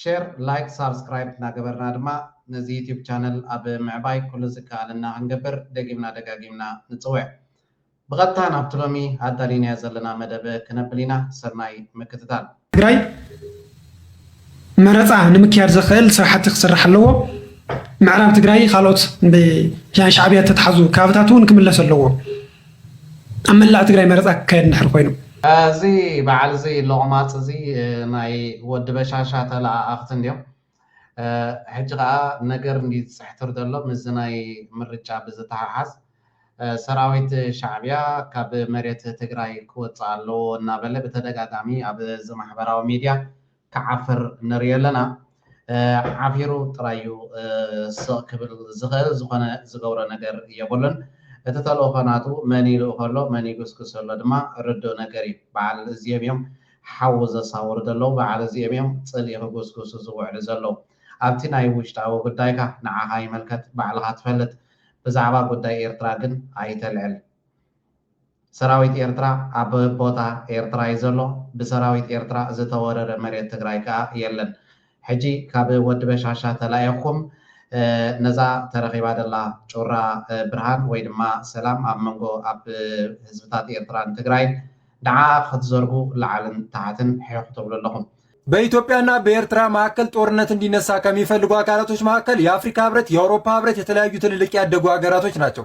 ሸር ላይክ ሳብስክራይብ እናገበርና ድማ ነዚ ዩቱብ ቻነል ኣብ ምዕባይ ኩሉ ዝከኣለና ክንገብር ደጊምና ደጋጊምና ንጽውዕ። ብቐጥታ ናብቲ ሎሚ ኣዳሊናዮ ዘለና መደብ ክነብል ኢና ሰናይ ምክትታል። ትግራይ መረፃ ንምክያድ ዘኽእል ስራሕቲ ክስራሕ ኣለዎ። ምዕራብ ትግራይ ኻልኦት ብሻዕብያ ዝተትሓዙ ከባብታት እውን ክምለሱ ኣለዎም። ኣብ መላእ ትግራይ መረፃ ክካየድ እንድሕር ኮይኑ። እዚ በዓል እዚ ሎቕማጽ እዚ ናይ ወዲ በሻሻ ተለኣኣኽቲ እንድዮም ሕጂ ከኣ ነገር እንድዩ ዝጽሕትር ዘሎ ምስዚ ናይ ምርጫ ብዝተሓሓዝ ሰራዊት ሻዕብያ ካብ መሬት ትግራይ ክወጽእ ኣለዎ እናበለ ብተደጋጋሚ ኣብ እዚ ማሕበራዊ ሚድያ ክዓፍር ንሪኢ ኣለና ዓፊሩ ጥራይ እዩ ስቅ ክብል ዝክእል ዝኮነ ዝገብሮ ነገር የብሉን እቲ ተልእኮ ናቱ መን ይልእኮ ኣሎ መን ይግስግሶ ኣሎ ድማ ርዱእ ነገር እዩ በዓል እዚኦም እዮም ሓዊ ዘሳውሩ ዘለዉ በዓል እዚኦም እዮም ጽልኢ ክጉስጉሱ ዝውዕሉ ዘለዉ ኣብቲ ናይ ውሽጣዊ ጉዳይካ ንዓካ ይመልከት ባዕልካ ትፈልጥ ብዛዕባ ጉዳይ ኤርትራ ግን ኣይተልዕል። ሰራዊት ኤርትራ ኣብ ቦታ ኤርትራ እዩ ዘሎ። ብሰራዊት ኤርትራ ዝተወረረ መሬት ትግራይ ከኣ የለን። ሕጂ ካብ ወዲ በሻሻ ተላኢኽኩም ነዛ ተረኺባ ዘላ ጩራ ብርሃን ወይ ድማ ሰላም ኣብ መንጎ ኣብ ህዝብታት ኤርትራን ትግራይን ንዓኣ ክትዘርጉ ላዕልን ታሕትን ሒኽ ክትብሉ ኣለኹም። በኢትዮጵያ እና በኤርትራ መካከል ጦርነት እንዲነሳ ከሚፈልጉ አካላቶች መካከል የአፍሪካ ህብረት፣ የአውሮፓ ህብረት፣ የተለያዩ ትልልቅ ያደጉ ሀገራቶች ናቸው።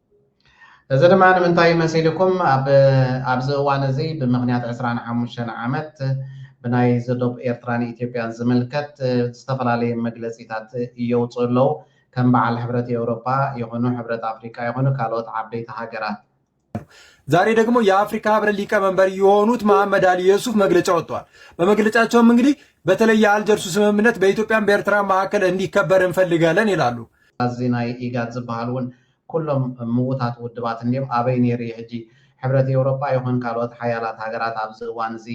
እዚ ድማ ንምንታይ መሲልኩም ኣብ ኣብዚ እዋን እዚ ብምኽንያት ዕስራን ሓሙሽተን ዓመት ብናይ ዝዶብ ኤርትራን ኢትዮጵያን ዝምልከት ዝተፈላለየ መግለጺታት የውጽኡ ኣለዉ ከም በዓል ሕብረት ኤውሮጳ ይኹኑ ሕብረት ኣፍሪቃ ይኹኑ ካልኦት ዓበይቲ ሃገራት ዛሬ ደግሞ የአፍሪካ ህብረት ሊቀመንበር የሆኑት መሐመድ አሊ የሱፍ መግለጫ ወጥተዋል። በመግለጫቸውም እንግዲህ በተለይ የአልጀርሱ ስምምነት በኢትዮጵያን በኤርትራ መካከል እንዲከበር እንፈልጋለን ይላሉ። እዚ ናይ ኢጋድ ዝበሃል እውን ኩሎም ምዉታት ውድባት እንድዮም ኣበይ ኔሩ እዩ ሕጂ ሕብረት ኤውሮጳ ይኹን ካልኦት ሓያላት ሃገራት ኣብዚ እዋን እዚ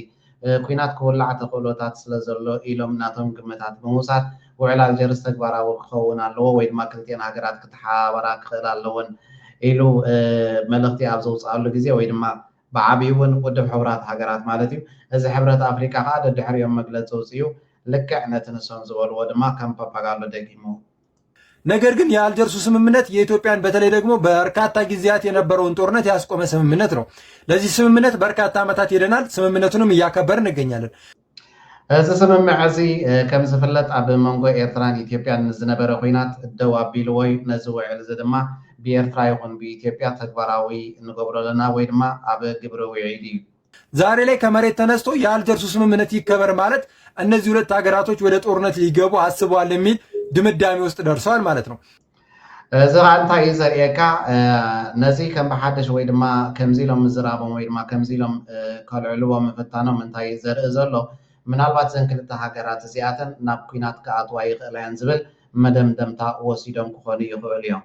ኲናት ክውላዕ ተኽእሎታት ስለ ዘሎ ኢሎም ናቶም ግምታት ብምውሳድ ውዕል ኣልጀርስ ተግባራዊ ክኸውን ኣለዎ ወይ ድማ ክልቲኤን ሃገራት ክተሓባበራ ክኽእላ ኣለወን ኢሉ መልእኽቲ ኣብ ዘውጽኣሉ ግዜ ወይ ድማ ብዓቢኡ እውን ውድብ ሕቡራት ሃገራት ማለት እዩ እዚ ሕብረት ኣፍሪቃ ከኣ ደድሕሪኦም መግለጺ ኣውጺኡ ልክዕ ነቲ ንሶም ዝበልዎ ድማ ከም ፓፓጋሎ ደጊሙ ነገር ግን የአልጀርሱ ስምምነት የኢትዮጵያን በተለይ ደግሞ በርካታ ጊዜያት የነበረውን ጦርነት ያስቆመ ስምምነት ነው። ለዚህ ስምምነት በርካታ ዓመታት ሄደናል። ስምምነቱንም እያከበር እንገኛለን። እዚ ስምምዕ እዚ ከም ዝፍለጥ ኣብ መንጎ ኤርትራን ኢትዮጵያን ምስ ዝነበረ ኩናት ደው ኣቢልዎ እዩ። ነዚ ውዕል እዚ ድማ ብኤርትራ ይኹን ብኢትዮጵያ ተግባራዊ ንገብሮ ኣለና ወይ ድማ ኣብ ግብሪ ውዒሉ እዩ። ዛሬ ላይ ከመሬት ተነስቶ የአልጀርሱ ስምምነት ይከበር ማለት እነዚህ ሁለት ሀገራቶች ወደ ጦርነት ሊገቡ አስበዋል የሚል ድምዳሜ ውስጥ ደርሰዋል ማለት ነው። እዚ ከዓ እንታይ እዩ ዘርእየካ ነዚ ከም ብሓደሽ ወይ ድማ ከምዚ ኢሎም ምዝራቦም ወይ ድማ ከምዚ ኢሎም ከልዕልዎ ምፍታኖም እንታይ እዩ ዘርኢ ዘሎ ምናልባት ዘን ክልተ ሃገራት እዚኣተን ናብ ኩናት ክኣትዋ ይኽእላ እየን ዝብል መደምደምታ ወሲዶም ክኾኑ ይኽእሉ እዮም።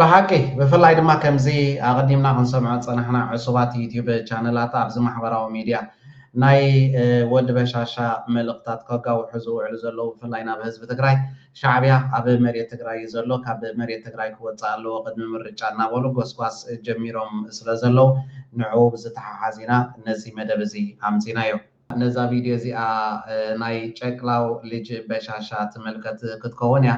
ብሓቂ ብፍላይ ድማ ከምዚ ኣቐዲምና ክንሰምዖ ዝጸናሕና ዕሱባት ዩትዩብ ቻነላት ኣብዚ ማሕበራዊ ሚድያ ናይ ወዲ በሻሻ መልእኽታት ከጋውሑ ዝውዕሉ ዘለዉ ብፍላይ ናብ ህዝቢ ትግራይ ሻዕብያ ኣብ መሬት ትግራይ እዩ ዘሎ ካብ መሬት ትግራይ ክወፅእ ኣለዎ ቅድሚ ምርጫ እናበሉ ጎስጓስ ጀሚሮም ስለ ዘለዉ ንዕኡ ብዝተሓሓዝ ኢና ነዚ መደብ እዚ ኣምፂናዮ። ነዛ ቪድዮ እዚኣ ናይ ጨቅላው ልጅ በሻሻ ትምልከት ክትከውን እያ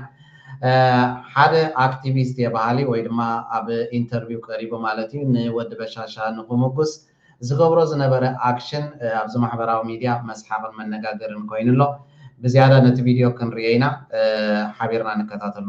ሓደ ኣክቲቪስት እየ በሃሊ ወይ ድማ ኣብ ኢንተርቪው ቀሪቡ ማለት እዩ ንወዲ በሻሻ ንክሙጉስ ዝገብሮ ዝነበረ ኣክሽን ኣብዚ ማሕበራዊ ሚድያ መስሓቅን መነጋገርን ኮይኑ ኣሎ ብዝያዳ ነቲ ቪድዮ ክንርእዮ ኢና ሓቢርና ንከታተሎ።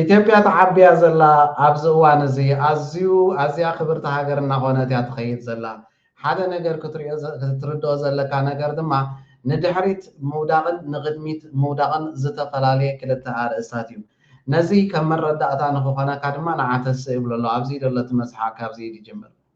ኢትዮጵያ ተዓብያ ዘላ ኣብዚ እዋን እዚ ኣዝዩ ኣዝያ ክብርቲ ሃገር እናኾነት እያ ትኸይድ ዘላ። ሓደ ነገር ክትሪኦ ክትርድኦ ዘለካ ነገር ድማ ንድሕሪት ምውዳቕን ንቕድሚት ምውዳቕን ዝተፈላለየ ክልተ ኣርእስታት እዩ። ነዚ ከም መረዳእታ ንክኾነካ ድማ ንዓ ተስእ ይብሎ ኣሎ። ኣብዚ ዘሎ እቲ መዝሓ ካብዚ ድጅምር።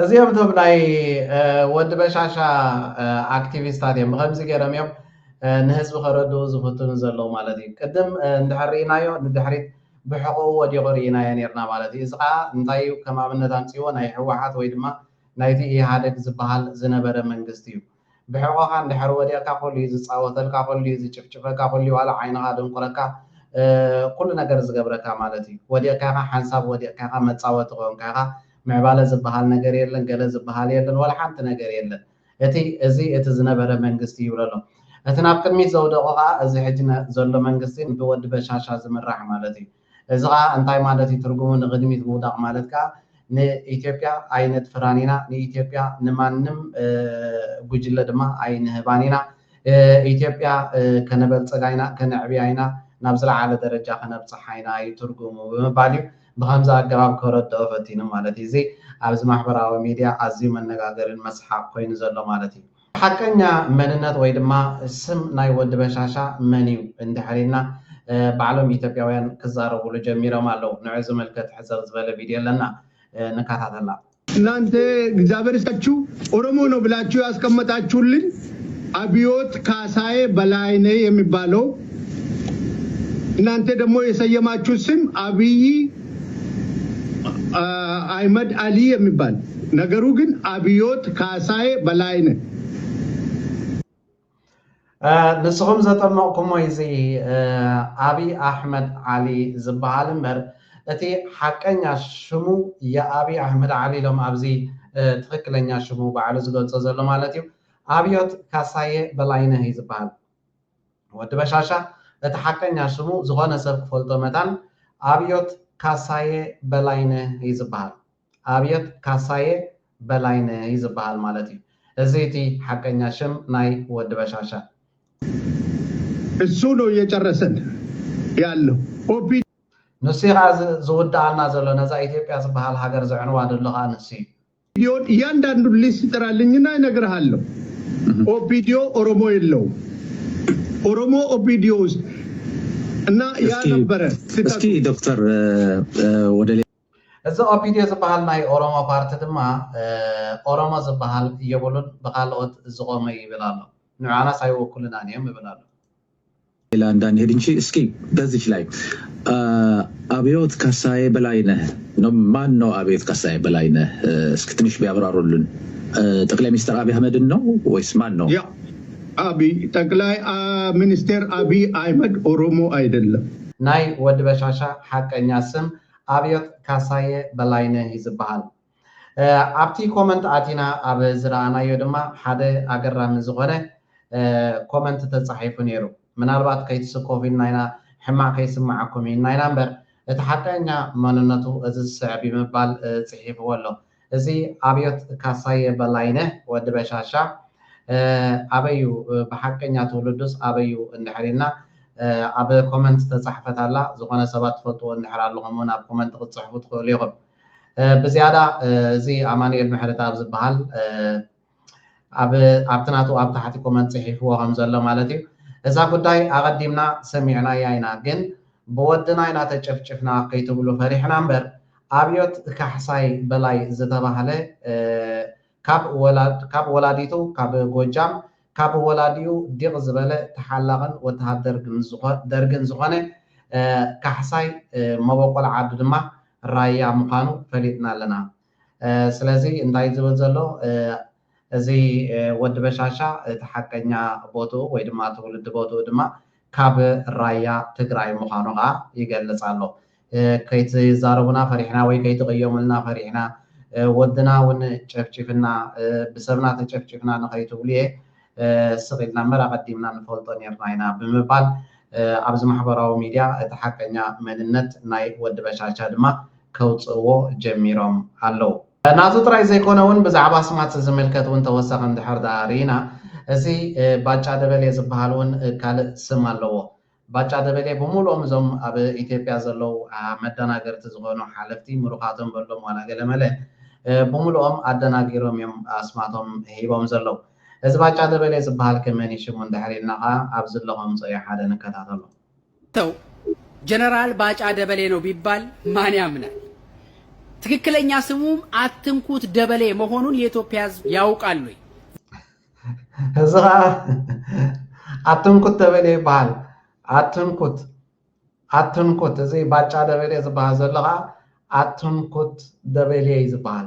እዚኦም እቶም ናይ ወዲ በሻሻ ኣክቲቪስታት እዮም ብከምዚ ገይሮም እዮም ንህዝቢ ከረድኡ ዝፍትኑ ዘለዉ ማለት እዩ ቅድም እንድሕር ርኢናዮ ንድሕሪት ብሕቕኡ ወዲቑ ርኢናዮ ነርና ማለት እዩ እዚ ከዓ እንታይ እዩ ከም ኣብነት ኣምፅዎ ናይ ህወሓት ወይ ድማ ናይቲ ኢህኣደግ ዝበሃል ዝነበረ መንግስቲ እዩ ብሕቆኻ እንድሕር ወዲቕካ ኩሉዩ ዝጻወተልካ ኩሉዩ ዝጭፍጭፈካ ኩሉዩ ዋላ ዓይንኻ ደንቁረካ ኩሉ ነገር ዝገብረካ ማለት እዩ ወዲቕካ ኢኻ ሓንሳብ ወዲቕካ ኢኻ መጻወቲ ኮንካ ኢኻ ምዕባለ ዝብሃል ነገር የለን ገለ ዝብሃል የለን ዋላ ሓንቲ ነገር የለን እቲ እዚ እቲ ዝነበረ መንግስቲ ይብሎ ኣሎ እቲ ናብ ቅድሚት ዘውደቖ ከኣ እዚ ሕጂ ዘሎ መንግስቲ ብወዲ በሻሻ ዝምራሕ ማለት እዩ። እዚ ከኣ እንታይ ማለት እዩ ትርጉሙ ንቅድሚት ምውዳቅ ማለት ከኣ ንኢትዮጵያ ኣይነጥፍራን ኢና ንኢትዮጵያ ንማንም ጉጅለ ድማ ኣይንህባን ኢና ኢትዮጵያ ከነበልጽጋ ኢና ከነዕብያ ኢና ናብ ዝለዓለ ደረጃ ከነብጽሓ ኢና እዩ ትርጉሙ ብምባል እዩ ብከምዚ ኣገባብ ከረድኦ ፈቲኑ ማለት እዩ እዚ ኣብዚ ማሕበራዊ ሚድያ ኣዝዩ መነጋገሪን መስሓቅ ኮይኑ ዘሎ ማለት እዩ። ሓቀኛ መንነት ወይ ድማ ስም ናይ ወዲ በሻሻ መን እዩ እንድሕር ኢልና ባዕሎም ኢትዮጵያውያን ክዛረቡሉ ጀሚሮም ኣለው። ንዑ ዝምልከት ሕጽር ዝበለ ቪድዮ ኣለና ንካታተላ። እናንተ እግዚኣቢሔር ይስጣችሁ ኦሮሞ ነው ብላችሁ ያስቀመጣችሁልኝ አብዮት ካሳየ በላይነህ የሚባለው እናንተ ደግሞ የሰየማችሁት ስም አብይ አይመድ አሊ የሚባል ነገሩ ግን አብዮት ካሳዬ በላይነህ ንስኹም ዘጠመቕኩሞ እዚ ኣብይ ኣሕመድ ዓሊ ዝበሃል እምበር እቲ ሓቀኛ ሽሙ የኣብይ ኣሕመድ ዓሊ ኢሎም ኣብዚ ትኽክለኛ ሽሙ ባዕሉ ዝገልፆ ዘሎ ማለት እዩ ኣብዮት ካሳየ በላይነህ እዩ ዝበሃል። ወዲ በሻሻ እቲ ሓቀኛ ሽሙ ዝኾነ ሰብ ክፈልጦ መታን ኣብዮት ካሳየ በላይነ እዩ ዝብሃል። ኣብዮት ካሳየ በላይነ እዩ ዝብሃል ማለት እዩ። እዚ እቲ ሓቀኛ ሽም ናይ ወዲ በሻሻ። እሱ ነው እየጨረሰን ያለው ኦፒ። ንሱ'ዩ ከኣ ዝውድኣና ዘሎ፣ ነዛ ኢትዮጵያ ዝብሃል ሃገር ዘዕንዋ ደሎ ከኣ ንሱ'ዩ። ኦፒዲዮን እያንዳንዱን ሊስት ጥራልኝና ይነግርሃለሁ። ኦፒዲዮ ኦሮሞ የለው ኦሮሞ ኦፒዲዮ ውስጥ እና ያ እስኪ ነበረ እስኪ ስህተቱ። ዶክተር እ፣ እ፣ ወደ ሌላ እዚ ኦፒዲዮ ዝበሃል ናይ ኦሮሞ ፓርቲ ድማ እ፣ ኦሮሞ ዝበሃል የብሉን ብካልኦት ዝቆመ ይብል ኣሎ ንዓናስ ኣይወክሉናን እዮም ይብል ኣሎ ሌላ እንዳንሄድ እንጂ እስኪ በዚች ላይ አብዮት ካሳዬ በላይነህ ማን ነው? አብዮት ካሳዬ በላይነህ እስኪ ትንሽ ቢያብራሩልን። ጠቅላይ ሚኒስትር አብይ አህመድን ነው ወይስ ማን ነው? ያ አብይ ጠቅላይ ሚኒስቴር አብይ አህመድ ኦሮሞ አይደለም። ናይ ወዲ በሻሻ ሓቀኛ ስም ኣብዮት ካሳየ በላይነህ እዩ ዝበሃል። ኣብቲ ኮመንት ኣቲና ኣብ ዝረኣናዮ ድማ ሓደ ኣገራሚ ዝኾነ ኮመንት ተጻሒፉ ኔሩ። ምናልባት ከይትስከፉ ኢልና ኢና ሕማቕ ከይስመዓኩም ኢልና ኢና እምበር እቲ ሓቀኛ መንነቱ እዚ ዝስዕብ እዩ ምባል ጽሒፍዎ ኣሎ። እዚ ኣብዮት ካሳየ በላይነህ፣ ወዲ በሻሻ፣ ኣበይ እዩ ብሓቀኛ ትውልዱስ ኣበይ እዩ እንድሕር ኢልና ኣብ ኮመንት ዝተጻሕፈት ኣላ። ዝኾነ ሰባት ትፈልጥዎ እንድሕር ኣለኹም ውን ኣብ ኮመንት ክትጽሕፉ ትኽእሉ ኢኹም። ብዝያዳ እዚ ኣማኑኤል ምሕረትኣብ ዝበሃል ኣብቲ ናቱ ኣብ ታሕቲ ኮመንት ጽሒፍዎ ከም ዘሎ ማለት እዩ እዛ ጉዳይ ኣቐዲምና ሰሚዕናያ ኢና ግን ብወድና ኢና ተጨፍጭፍና ከይትብሉ ፈሪሕና እምበር ኣብዮት ካሕሳይ በላይ ዝተባህለ ካብ ወላዲቱ ካብ ጎጃም ካብ ወላዲኡ ዲቕ ዝበለ ተሓላቕን ወተሃደር ደርግን ዝኾነ ካሕሳይ መበቆል ዓዱ ድማ ራያ ምዃኑ ፈሊጥና ኣለና። ስለዚ እንታይ እዩ ዝብል ዘሎ እዚ ወዲ በሻሻ እቲ ሓቀኛ ቦትኡ ወይ ድማ ትውልዲ ቦትኡ ድማ ካብ ራያ ትግራይ ምዃኑ ከኣ ይገልጽ ኣሎ። ከይትዛረቡና ፈሪሕና ወይ ከይትቕየሙልና ፈሪሕና፣ ወድና ውን ጨፍጪፍና፣ ብሰብና ተጨፍጪፍና ንኸይትብሉ'የ ስቕ ኢልና እምበር ኣቐዲምና ንፈልጦ ኔርና ኢና ብምባል ኣብዚ ማሕበራዊ ሚድያ እቲ ሓቀኛ መንነት ናይ ወዲ በሻሻ ድማ ከውጽእዎ ጀሚሮም ኣለዉ። ናቱ ጥራይ ዘይኮነ ውን ብዛዕባ ኣስማት ዝምልከት ውን ተወሳኺ እንድሕር ድኣ ርኢና እዚ ባጫ ደበሌ ዝብሃል ውን ካልእ ስም ኣለዎ። ባጫ ደበሌ ብምሉኦም እዞም ኣብ ኢትዮጵያ ዘለዉ መደናገርቲ ዝኾኑ ሓለፍቲ ምሩኻቶም በሎም ዋላ ገለመለ ብምሉኦም ኣደናጊሮም እዮም ኣስማቶም ሂቦም ዘለዉ። እዚ ባጫ ደበሌ ዝብሃልከ መን እዩ ሽሙ እንድሕር ኢልና ከኣ ኣብዚ ኣለኹ ኣምጽኦዮ ሓደ ንከታተሎ። ተው ጀነራል ባጫ ደበሌ ነው ቢባል ማን ያምናል? ትክክለኛ ስሙም አትንኩት ደበሌ መሆኑን የኢትዮጵያ ሕዝብ ያውቃል ወይ? እዚ ከዓ ኣትንኩት ደበሌ ይበሃል ኣትንኩት ኣትንኩት እዚ ባጫ ደበሌ ዝበሃል ዘሎ ከዓ ኣትንኩት ደበሌ እዩ ዝበሃል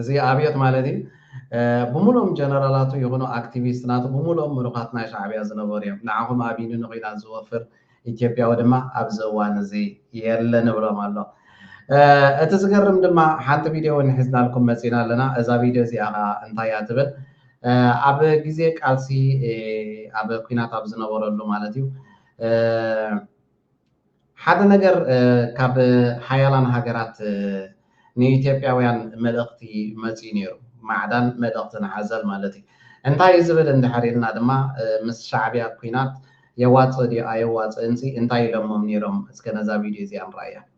እዚ ኣብዮት ማለት እዩ ብሙሉኦም ጀነራላቱ ይኹኑ ኣክቲቪስት ናቱ ብሙሉኦም ምሩኻት ናይ ሻዕብያ ዝነበሩ እዮም ንዓኹም ኣቢኒ ንኹናት ዝወፍር ኢትዮጵያዊ ድማ ኣብዚ እዋን እዚ የለን እብሎም ኣሎ እቲ ዝገርም ድማ ሓንቲ ቪድዮ እውን ሒዝናልኩም መፂና ኣለና እዛ ቪድዮ እዚኣ ከዓ እንታይ እያ ትብል ኣብ ግዜ ቃልሲ ኣብ ኩናት ኣብ ዝነበረሉ ማለት እዩ ሓደ ነገር ካብ ሓያላን ሃገራት ንኢትዮጵያውያን መልእኽቲ መፂኡ ነይሩ፣ ማዕዳን መልእኽትን ሓዘል ማለት እዩ። እንታይ እዩ ዝብል እንድሕር ኢልና ድማ ምስ ሻዕቢያ ኲናት የዋፅእ ድዩ ኣየዋፅእንሲ እንታይ ኢሎሞም ነይሮም እስከ ነዛ ቪድዮ እዚኣ ንርኣያ።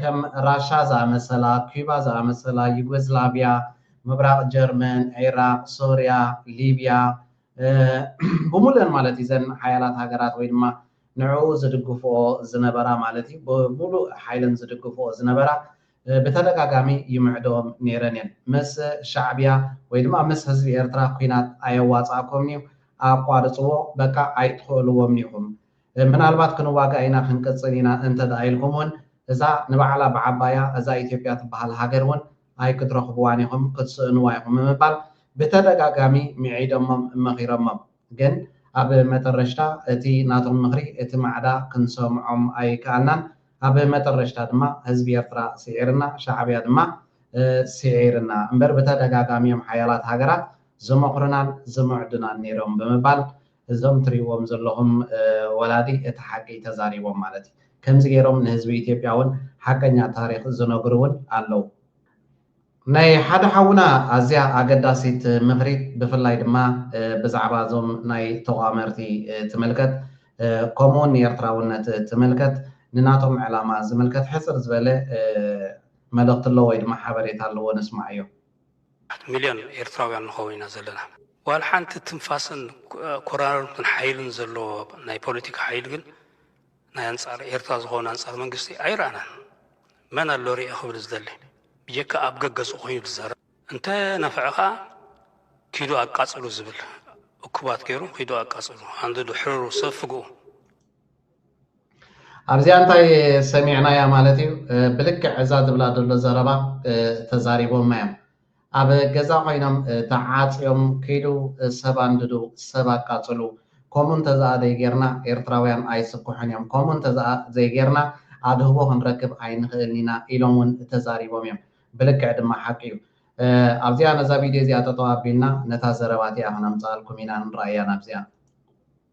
ከም ራሻ ዝኣመሰላ፣ ኲባ ዝኣመሰላ፣ ዩጎዝላቪያ፣ ምብራቕ ጀርመን፣ ዒራቕ፣ ሶርያ፣ ሊብያ ብሙሉኤን ማለት እዩ እዘን ሓያላት ሃገራት ወይ ድማ ንዕኡ ዝድግፍኦ ዝነበራ ማለት እዩ ብሙሉእ ሓይለን ዝድግፍኦ ዝነበራ ብተደጋጋሚ ይምዕደኦም ነይረን እየን። ምስ ሻዕብያ ወይ ድማ ምስ ህዝቢ ኤርትራ ኲናት ኣየዋጽኣኩምን'ዩ ኣቋርጽዎ በቃ ኣይትኽእልዎምን'ኹም ምናልባት ክንዋጋእ ኢና ክንቅጽል ኢና እንተድኣ ኢልኩም ውን እዛ ንባዕላ ብዓባያ እዛ ኢትዮጵያ ትብሃል ሃገር ውን ኣይክትረኽብዋን ኢኹም ክትስእንዋ ኢኹም ብምባል ብተደጋጋሚ ምዒዶሞም መኺሮሞም ግን ኣብ መጠረሽታ እቲ ናቶም ምኽሪ እቲ ማዕዳ ክንሰምዖም ኣይከኣልናን ኣብ መጠረሽታ ድማ ህዝቢ ኤርትራ ስዒርና ሻዕብያ ድማ ስዒርና እምበር ብተደጋጋሚ እዮም ሓያላት ሃገራት ዝመኽሩናን ዝምዕዱናን ኔሮም ብምባል እዞም ትሪእዎም ዘለኹም ወላዲ እቲ ሓቂ ተዛሪቦም ማለት እዩ። ከምዚ ገይሮም ንህዝቢ ኢትዮጵያ እውን ሓቀኛ ታሪኽ ዝነግሩ እውን ኣለው። ናይ ሓደ ሓውና ኣዝያ ኣገዳሲት ምኽሪ ብፍላይ ድማ ብዛዕባ እዞም ናይ ተቋመርቲ ትምልከት ከምኡ እውን ንኤርትራውነት ትምልከት ንናቶም ዕላማ ዝምልከት ሕጽር ዝበለ መልእኽቲ ኣለዎ ወይ ድማ ሓበሬታ ኣለዎ ንስማዓዮ። ኣት ሚልዮን ኤርትራውያን ንኸውን ኢና ዘለና። ዋላ ሓንቲ ትንፋስን ኮራርምትን ሓይልን ዘለዎ ናይ ፖለቲካ ሓይሊ ግን ናይ ኣንጻር ኤርትራ ዝኸውን ኣንጻር መንግስቲ ኣይረኣናን። መን ኣሎ ርኤ ክብል ዝደሊ ብጀካ ኣብ ገገጹ ኮይኑ ዝዛረብ። እንተ ነፈዐ ከኣ ኪዱ ኣቃጽሉ ዝብል እኩባት ገሩ ኪዱ ኣቃጽሉ ኣንድዱ ሕርሩ ሰብ ፍግኡ። ኣብዚኣ እንታይ ሰሚዕናያ ማለት እዩ ብልክዕ እዛ ዝብላ ዘሎ ዘረባ ተዛሪቦማ እዮም ኣብ ገዛ ኮይኖም ተዓፅዮም ክይዱ ሰብ ኣንድዱ ሰብ ኣቃፅሉ ከምኡ እንተዘኣ ዘይጌርና ኤርትራውያን ኣይስኩሑን እዮም ከምኡ እንተዘኣ ዘይጌርና ኣድህቦ ክንረክብ ኣይንኽእልን ኢና ኢሎም እውን ተዛሪቦም እዮም ብልክዕ ድማ ሓቂ እዩ ኣብዚኣ ነዛ ቪድዮ እዚኣ ጠጠው ኣቢልና ነታ ዘረባ እቲኣ ክነምፅኣልኩም ኢና ንረኣያ ናብዚኣ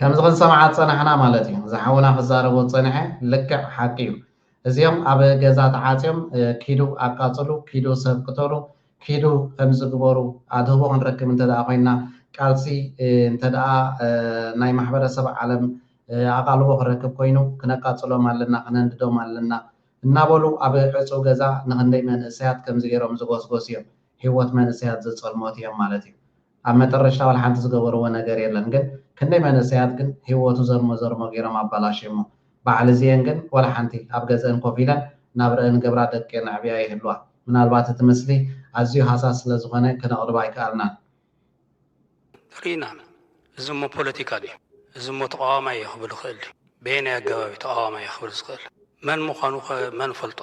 ከምዚ ክንሰምዓ ዝጸናሕና ማለት እዩ እዚ ሓውና ክዛረቦ ዝጸንሐ ልክዕ ሓቂ እዩ እዚኦም ኣብ ገዛ ተዓጽዮም ኪዱ ኣቃጽሉ ኪዱ ሰብ ቅተሉ ኪዱ ከምዚ ግበሩ ኣድህቦ ክንረክብ እንተ ኮይንና ቃልሲ እንተ ናይ ማሕበረሰብ ዓለም ኣቓልቦ ክረክብ ኮይኑ ክነቃጽሎም ኣለና ክነንድዶም ኣለና እናበሉ ኣብ ዕጹው ገዛ ንኽንደይ መንእሰያት ከምዚ ገይሮም ዝጎስጎሱ እዮም ሂወት መንእሰያት ዘጸልሞት እዮም ማለት እዩ ኣብ መጠረሽታ ዋላ ሓንቲ ዝገበርዎ ነገር የለን ግን ክንደይ መንእሰያት ግን ሂወቱ ዘርሞ ዘርሞ ጌሮም ኣባላሽየሞ ባዓል እዚኤን ግን ዋላ ሓንቲ ኣብ ገዘእን ኮፍ ኢለን ናብረእን ገብራ ደቂኤን ኣዕብያ ይህልዋ ምናልባት እቲ ምስሊ ኣዝዩ ሃሳስ ስለ ዝኮነ ክነቅርብ ኣይካኣልናን ሪኢና እዚ እሞ ፖለቲካ ድዩ እዚ እሞ ተቃዋማይ እየ ክብል ይክእል ድዩ በየናይ ኣገባብ እዩ ተቃዋማይ እየ ክብል ዝክእል መን ምኳኑ ከ መን ፈልጦ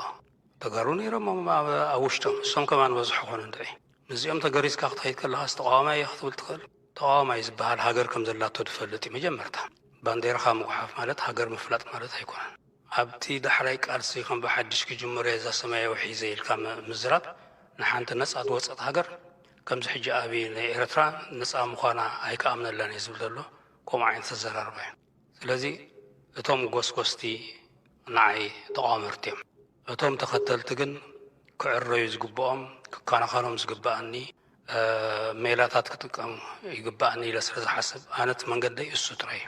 ተጋሩ ኔሮም ኣብ ውሽጦም እሶም ከማን በዝሑ ኮኑ እንድዒ። ምስዚኦም ተገሪዝካ ክትኸይድ ከለኻስ ተቓዋማይ እየ ክትብል ትኽእል? ተቓዋማይ ዝበሃል ሃገር ከም ዘላቶ ዝፈልጥ እዩ መጀመርታ። ባንዴራኻ ምጉሓፍ ማለት ሃገር ምፍላጥ ማለት ኣይኮነን። ኣብቲ ዳሕራይ ቃልሲ ከም ብሓድሽ ክጅምር እየ እዛ ሰማያዊ ሒዘ ኢልካ ምዝራብ ንሓንቲ ነጻ ዝወጸት ሃገር ከምዚ ሕጂ ኣብይ ንኤርትራ ነጻ ምዃና ኣይክኣምነላን እየ ዝብል ዘሎ ከምኡ ዓይነት ኣዘራርባ እዩ። ስለዚ እቶም ጎስጎስቲ ንዓይ ተቋመርቲ እዮም። እቶም ተኸተልቲ ግን ክዕረዩ ዝግብኦም፣ ክከናኸኖም ዝግበኣኒ ሜላታት ክጥቀም ይግበኣኒ ኢለ ስለ ዝሓስብ ኣነ እቲ መንገደይ እሱ ጥራይ እዩ።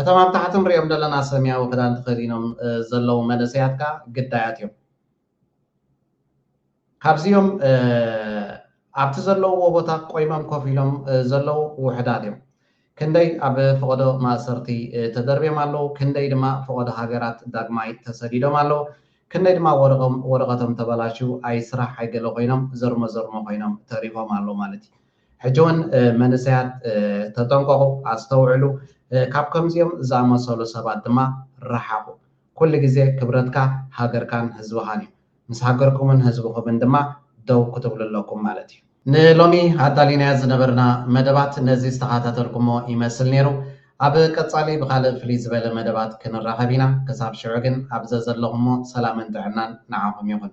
እቶም ኣብ ታሕቲ ንሪኦም ዘለና ሰምያዊ ክዳን ተኸዲኖም ዘለዉ መንእሰያት ከኣ ግዳያት እዮም። ካብዚኦም ኣብቲ ዘለውዎ ቦታ ቆይሞም ኮፍ ኢሎም ዘለዉ ውሑዳት እዮም። ክንደይ ኣብ ፈቐዶ ማእሰርቲ ተደርብዮም ኣለዉ፣ ክንደይ ድማ ፈቐዶ ሃገራት ዳግማይ ተሰዲዶም ኣለዉ፣ ክንደይ ድማ ወረቐቶም ተበላሽዩ ኣይስራሕ ኣይገለ ኮይኖም ዘርሞ ዘርሞ ኮይኖም ተሪፎም ኣለዉ ማለት እዩ። ሕጂ ውን መንእሰያት ተጠንቀቑ፣ ኣስተውዕሉ፣ ካብ ከምዚኦም ዝኣመሰሉ ሰባት ድማ ረሓቑ። ኩሉ ግዜ ክብረትካ ሃገርካን ህዝብኻን እዩ። ምስ ሃገርኩምን ህዝብኹምን ድማ ደው ክትብሉ ኣለኩም ማለት እዩ። ንሎሚ ኣዳሊናዮ ዝነበርና መደባት ነዚ ዝተኻታተልኩሞ ይመስል ኔሩ። ኣብ ቀጻሊ ብኻልእ ፍልይ ዝበለ መደባት ክንራኸብ ኢና። ክሳብ ሽዑ ግን ኣብ ዘዘለኹሞ ሰላምን ጥዕናን ንዓኹም ይኹን።